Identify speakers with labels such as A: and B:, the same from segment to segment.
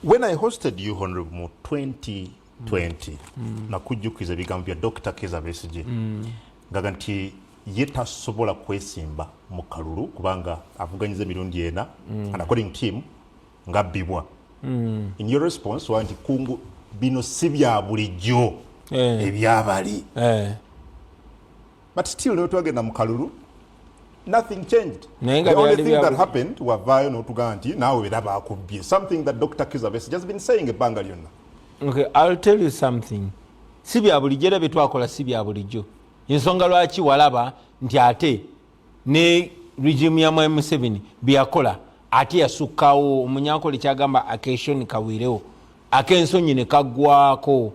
A: When I hosted you honorable mu 2020 mm. mm. nakujjukiza ebigambo bya Dr. Keza Besigye mm. ngaga nti ye tasobola kwesimba mu kalulu kubanga avuganyiza emirundi ena mm. and according to him ngabbibwa mm. in your response wa nti kungu bino si bya bulijjo eh. ebyabali eh. but still lero twagenda mu kalulu nothing changed the only thing that happened wavaayo n'otugaa nti naawe bera baakubbye something that dr kizabes just been saying ebbanga lyonna okay i'll
B: tell you something si bya bulijjo era bye twakola si bya bulijjo ensonga lwaki walaba nti ate ne regimu ya mwami museveni byeyakola ate yasukkawo omunyankole kyagamba akeeshoni kawiirewo ak'ensonyi ne kaggwako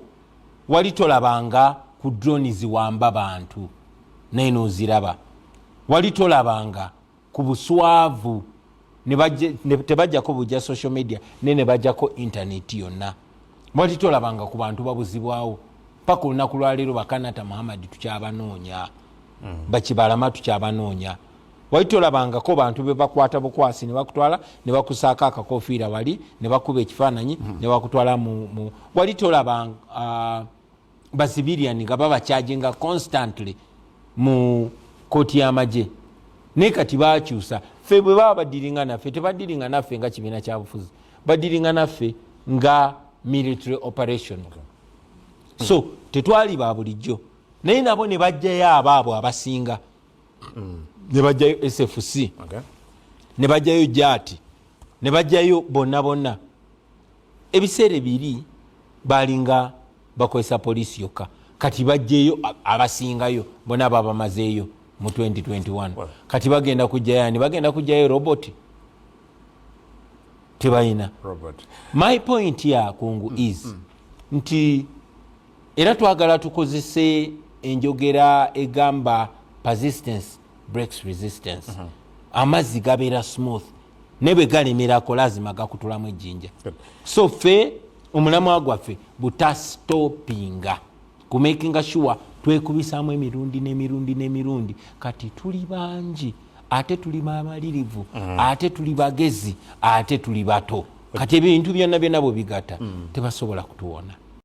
B: wali tolabanga ku droni ziwamba bantu naye noziraba wali tolabanga ku buswavu tebajjako bujja social media naye nebajjako intaneti yonna wali tolabanga ku bantu babuzibwawo paka olunaku lwaleero bakanata muhammadi tukyabanoonya mm. bakibalama tukyabanoonya wali tolabangako bantu bebakwata bukwasi nebakutwala nebakusaako akakofiira wali nebakuba ekifaananyi hmm. nebakutwala mu wali tolaba uh, bazibirian nga babakyajinga constantly mu kooti y'amagye naye kati bakyusa fe bwe baba badiringa naffe tebadiringa naffe nga kibiina kyabufuzi badiringa naffe nga military operation so tetwali ba bulijjo naye nabo ne bajjayo abaabwe abasinga mm. ne bajjayo sfc okay. ne bajjayo jaati ne bajjayo bonna bonna ebiseera ebiri balinga bakozesa poliisi yokka kati bajjeyo abasingayo bona babamazeeyo mu 2021 kati bagenda kujjayo ani bagenda kujjayo robot tebalina my point yakungu mm, is mm. nti era twagala tukozese enjogera egamba persistence breaks resistance uh mhm. -huh. amazzi gabeera smooth ne bwe galemerako lazima gakutulamu ejjinja so fe omulamwa gwaffe butastopinga kumakinga sure twekubisaamu emirundi n'emirundi n'emirundi kati tuli bangi ate tuli bamalirivu mm. ate tuli bagezi ate tuli bato kati ebintu byonna byonna bwe bigata mm. tebasobola kutuwona